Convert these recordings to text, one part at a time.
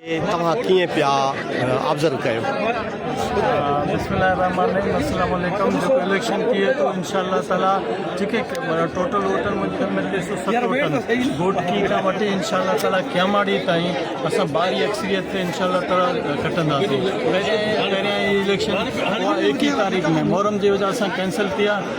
توهان ڪيئن پيا آبزرو ڪيو. بسم الله الرحمٰن الرحيم السلام عليڪم جيڪو اليڪشن ٿئي ٿو انشاء الله تعالٰي جيڪي ٽوٽل ووٽن مون جي خيال ۾ ٽي سؤ ست ووٽن گوٽ ٽي کان وٺي انشاء الله تعالٰي کياماڙي تائين اسان بھاري اڪثريت تي انشاء الله تعالٰي کٽنداسين پهريائين پهريائين اليڪشن اها ايڪ ئي تاريخ ۾ محرم جي وجه سان ڪينسل ٿي آ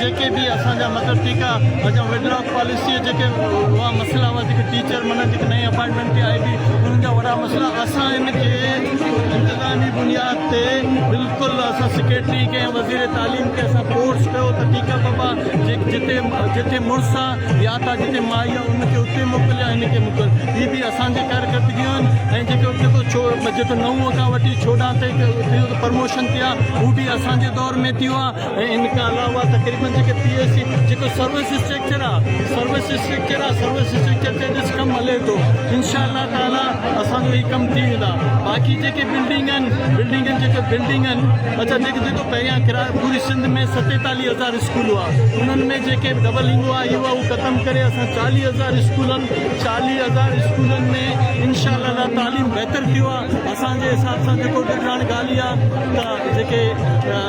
جيڪي به اسان جا مطلب ٽيڪا جا وڊرا پاليسي جيڪي هئا مسئلا هئا جيڪي ٽيچر معنيٰ جيڪي نئين اپائنٽمينٽ تي آئي هئي انهن جا وڏا مسئلا اسان ان کي انتظامي بنياد تي بلڪل اسان سيڪريٽري کي ۽ وزير تعليم کي اسان فورس ڪيو ته ٽيڪا بابا جتي جتي مڙس آ يا ته جتي مائي آ ان کي اتي موڪل يا هن کي موڪل هي به اسان جي ڪارڪردگيون آهن ۽ جيڪو جيڪو ڇو جيڪو نو کان وٺي چوڏهن تائين ٿيو ته پرموشن ٿيا هو به اسان جي دور ۾ ٿيو آ ان کان علاوه تقريبن جيڪي پي ايس سي جيڪو سروس اسٽرڪچر آ سروس اسٽرڪچر آ سروس اسٽرڪچر تي ڏس ڪم هلي ٿو انشاء الله تعالي اسان جو هي ڪم ٿي ويندا باقي جيڪي بلڊنگ آهن بلڊنگ آهن جيڪي بلڊنگ آهن اچا جيڪي جيڪو پهريان ڪرايو پوري سنڌ ۾ ستيتاليهه هزار اسڪول هئا انهن ۾ جيڪي ڊبل انگو آ هيو آ اهو ختم ڪري اسان چاليهه هزار اسڪولن چاليهه هزار اسڪولن ۾ انشاء الله تعالي تعليم بهتر ٿيو آ اسان جي حساب سان جيڪو ڏٺ هاڻي ڳالهه اها ته جيڪي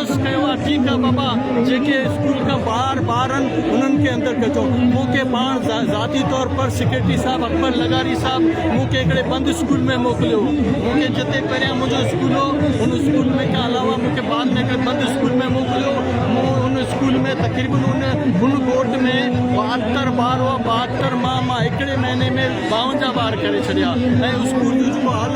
عرض ڪيو آ ٺيڪ آ بابا جيڪي اسڪول کان ٻاهر ٻار ان انهن کي اندر ڪجو مون کي پاڻ ذاتي طور پر سيڪريٽري صاحب اڪبر لغاري صاحب مون کي هڪڙي بند اسڪول ۾ موڪليو مون کي جتي پهريان منهنجو اسڪول هو ان اسڪول ۾ کان علاوه مون کي بعد ۾ هڪڙي بند اسڪول ۾ موڪليو مون ان اسڪول ۾ تقريبن ان ان ڳوٺ ۾ ٻاهتر ٻار هئا ٻاهتر مان مان هڪڙي مهيني ۾ ٻاونجاهه ٻار ڪري ڇڏيا ۽ اسڪول جون جيڪو حالتون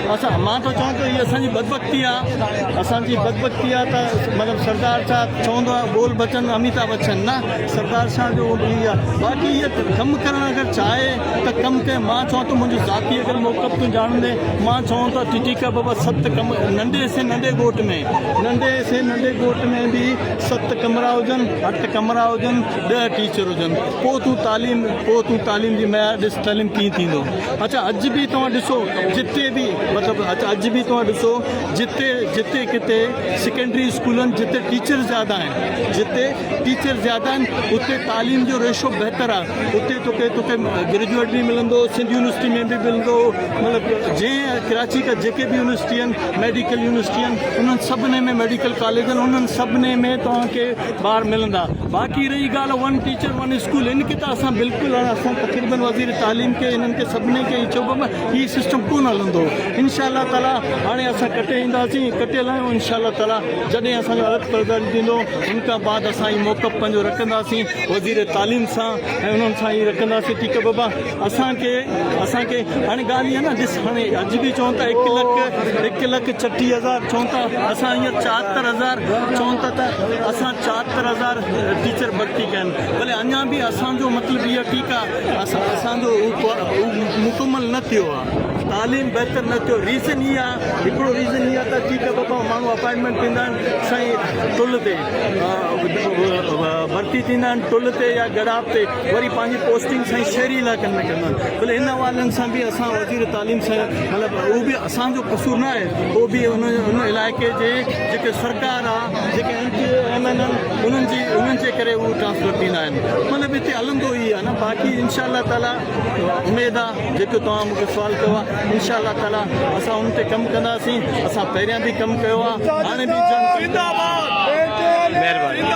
اسان مان ٿو چوان ته هي اسان جي بدبختي آ اسان جي بدبختي آ ته مطلب سردار صاحب چوندو آ بول بچن اميتا بچن نه سردار شاهه جو هي آ باقي هي ڪم ڪرڻ اگر چاهي ته ڪم ڪي مان چوان ته منهنجو ذاتي اگر موقف تون جاڻندي مان چوان ته ٽي ٽي ڪا بابا ست ڪم ننڍي سي ننڍي ڳوٺ ۾ ننڍي سي ننڍي ڳوٺ ۾ به ست ڪمرا هجن اٺ ڪمرا هجن ڏهه ٽيچر هجن پوء تون تعليم پوء تون تعليم جي معيار ڏس تعليم ڪيئن ٿيندو اچا اڄ به توهان ڏسو جتي به مطلب اچا اڄ به توهان ڏسو جتي جتي ڪتي سيڪنڊري اسڪولن جتي ٽيچر زياده آهن جتي ٽيچر زياده آهن اتي تعليم جو ريشو بهتر آهي اتي توکي توکي گريجويٽ به ملندو سنڌ يونيورسٽي ۾ به ملندو مطلب جنهن ڪراچي کا جيڪي به يونيورسٽي آهن ميڊيڪل يونيورسٽي آهن انهن سڀني ۾ ميڊيڪل ڪاليجن انهن سڀني ۾ توهان کي ٻار ملندا باقي رهي ڳالهه ون ٽيچر ون اسڪول ان کي ته اسان بلڪل اسان تقريبن وزير تعليم کي انهن کي سڀني کي چئو بابا هي سسٽم ڪون هلندو انشاء الله تعالي هاڻي اسان ڪٽي اينداسين ڪٽيل آهيون انشاء الله تعالي جڏهن اسان جو عرض پرداري ٿيندو ان کان بعد اسان هي موقف پنهنجو رکنداسين وزير تعليم سان ۽ انهن سان هي رکنداسين ٺيڪ آهي بابا اسان کي اسان کي هاڻي ڳالهه اها نه ڏس هاڻي اڄ به چون ٿا هڪ لک هڪ لک ڇٽيهه هزار چون ٿا اسان هينئر چاهتر هزار چون ٿا ته اسان چاهتر هزار ٽيچر ڀرتي ڪيا آهن بلي اڃا به اسان جو مطلب اها ٺيڪ آهي اسان اسان جو مڪمل نه ٿيو آهي تعليم بهتر نه ٿيو ریزن اها آهي هڪڙو ریزن اها ته ٺيڪ آهي بابا ماڻهو اپائنٽمنٽ ڏيندا آهن سائين ٽل تي ڀرتي ٿيندا آهن ٽل تي يا ڳڙاپ تي وري پنهنجي پوسٽنگ سائين شهري علائقن ۾ ڪندا آهن بل ان حوالن سان به اسان وزير تعليم سان مطلب اهو به اسان جو قصور نه آهي اهو به ان ان علائقي جي جيڪي سرڪار آ جيڪي M P A M N N انهن جي انهن جي ڪري اهو ٽرانسفر ٿيندا آهن مطلب هتي هلندو ئي آ نه باقي انشاء الله تعالي اميد آ جيڪو توهان مونکي سوال ڪيو آ انشاء الله تعالي اسان ان تي ڪم ڪنداسين اسان پهريان به ڪم ڪيو آ هاڻي به زنده باد مهرباني